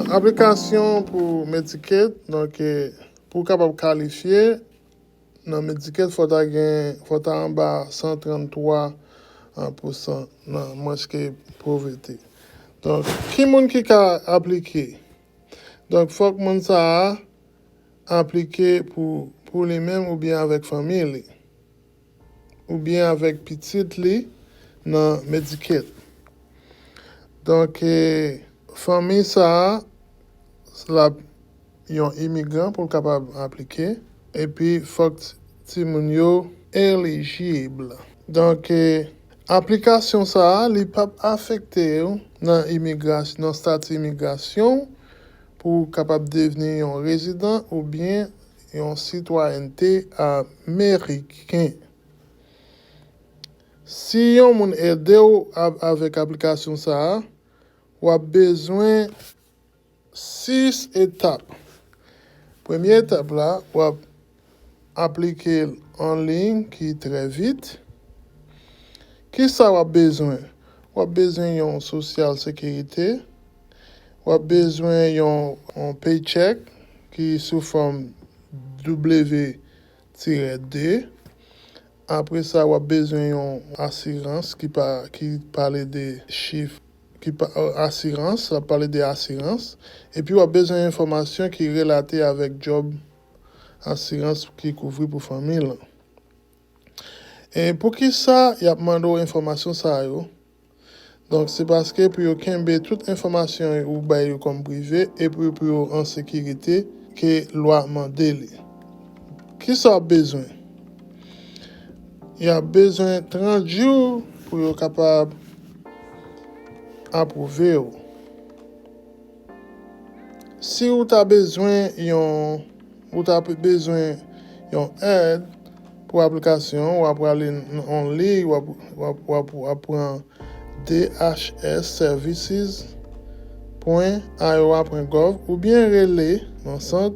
Aplikasyon pou Medicaid, donk pou w kapab kalifye nan Medicaid fò ta gen, fò ta anba 133 pousan nan manch ke povrete. Donk ki moun ki ka aplike? Donk fòk moun sa a aplike pou pou li menm oubyen avèk fanmi li, oubyen avèk pitit li nan Medicaid. Donk, fanmi sa a, l ap yon imigran pou l kapab aplike, epi fòk timoun yo elijib. Donk, aplikasyon sa a, li p ap afekte w nan imigra nan stati imigrasyon w. Pou w kapab devni yon rezidan oubyen yon sitwayènte ameriken. Si yon moun ede w avèk aplikasyon sa a, w ap bezwen 6 etap. Premye etap la, w ap. aplike l an liy ki trè vit. Ki sa w ap bezwen? W ap bezwen yon sosyal sekirite, w ap bezwen yon paycheck ki sou fòm W-2, apre sa w ap bezwen yon asirans ki pale de chif, asirans, sa pale de asirans, epi w ap bezwen enfòmasyon ki relate avèk djòb. asirans ki kouvri pou fanmi l lan. E poukisa y ap mande w enfòmasyon sa yo? Donk, se paske pou yo kenbe tout enfòmasyon ou bay yo kòm prive epi pou yo an sekirite ke lwa mande li. Kisa w ap bezwen? Y ap bezwen 30 jou pou yo kapab apwouve w. Si ou ta bezwen yon ou ta bezwen yon èd pou aplikasyon, wap prale nan yon liy wap wap wap wap pran dhsservices pwen iowa pwen gov oubyen rele nan sant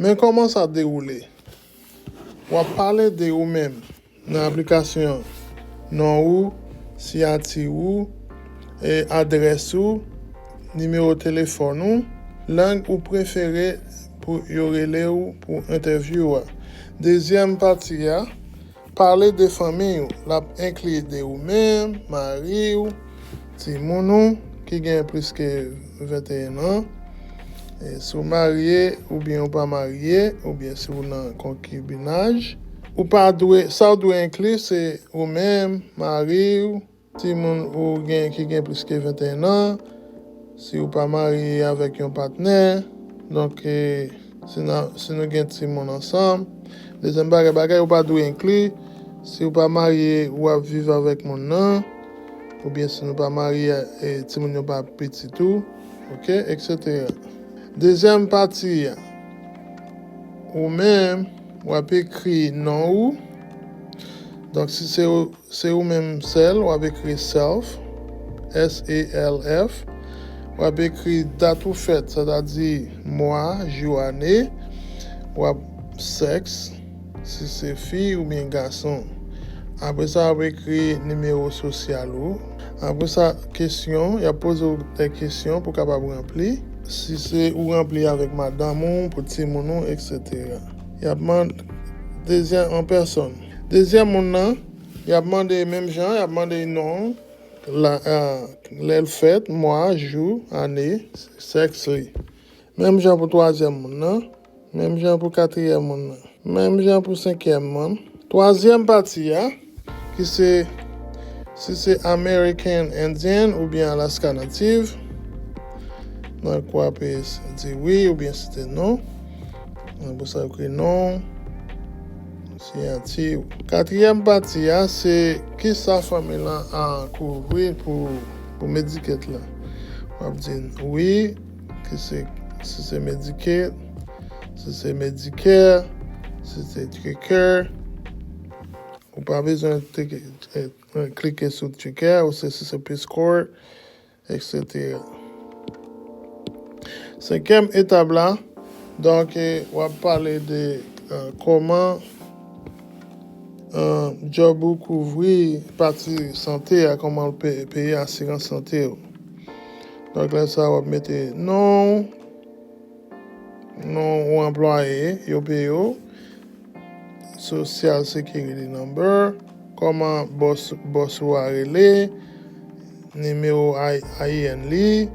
Men kòman sa dewoule. W ap pale de ou menm nan aplikasyon an. Non ou, siyati ou, e adrès ou, nimewo telefòn ou, lang ou prefere pou yo rele ou pou entèvyou a. Dezyèm pati a. Pale de fanmiy ou la enkli de ou menm, mari ou, timoun ou ki gen plis ke 21 an. Si ou marye oubyen ou pa marye oubyen si ou nan konkibinaj, ou pa dwe, sa ou dwe enkli se ou menm, mari ou, Timoun ou gen ki gen plis ke 21 an, si ou pa marye avèk yon patnè, donk si nou gen timoun ansanm. Dezyèm bagay, bagay ou pa dwe enkli, si ou pa marye ou ap viv avèk moun nan, oubyen si nou pa marye e timoun yo pa pitit ou, ok, eksetera. Dezyèm pati a, ou menm, w ap ekri non ou, donk si se Se ou menm sèl w ap ekri self, S-E-L-F, w ap ekri dat ou fèt, sa ta di mwa, jou, ane, w ap sèks, si se fi oubyen gason. Apre sa, w ap ekri nimewo sosyal ou. Apre sa, kesyon, y ap poze w de kesyon pou w kapab ranpli. Si se ou ranpli avèk madanm ou, pou timoun ou, eksetera. Y ap mande dezyèm an pèsòn. Dezyèm moun nan, y ap mande menm jan, y ap mande l non l, lè l fèt, mwa, jou, ane, sèks li. Menm jan pou twazyèm moun nan, menm jan pou katriyèm moun nan, menm jan pou senkyèm moun. Twazyèm pati a, ki se si se American Indian oubyen Alaska Native, nan l kwape di wi oubyen si te non, nan pou sa yo ekri non. Siyati ou. Katriyèm pati a se kisa fanmi lan an kouvri pou pou Medicaid lan. W ap di n wi, ki se si se Medicaid, si se Medicare, si se Tricare. Ou pa bezwen klike sou Tricare ou se si se Peace Corps. etc. Senkyèm etap la, donk w ap pale de kòman djòb ou kouvri pati sante a, kòman l peye asirans sante ou. Donk lè sa a w ap mete non ou. Non yon anplwaye yo peye w. Social Security Number. Kòman bòs bòs ou a rele. Nimewo IN li.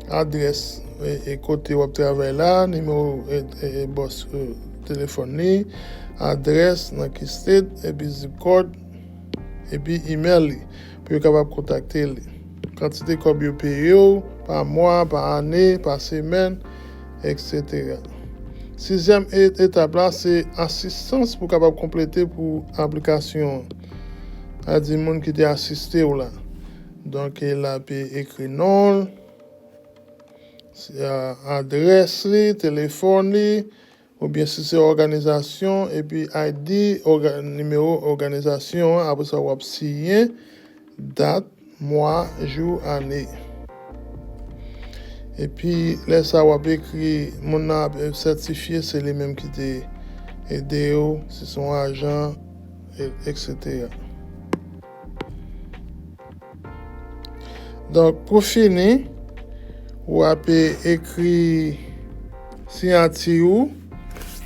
Adrès e kote w ap travay la. Nimewo e bòs telefòn li. Adrès nan ki state epi zip code epi email li. pou yo kapab kontakte li. Kantite kòb yo peye w, pa mwa, pa ane, pa semèn, etc. Sizyèm etap la se asistans pou kapab konplete pou aplikasyon an. A di moun ki te asiste w la. Donk e la pe ekri non l, adrès li, telefòn li, Oubyen si se òganizasyon epi ID òga nimewo òganizasyon an apre sa wap siyen dat mwa jou ane epi lè sa wap ekri moun nan ap sètifye se li menm ki te edew si son ajan etc. Donk pou fini, ou ape ekri siyati ou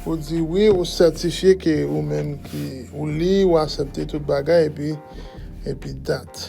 pou di wi ou sètifye ke ou menm ki ou li, ou asepte tout bagay epi epi dat.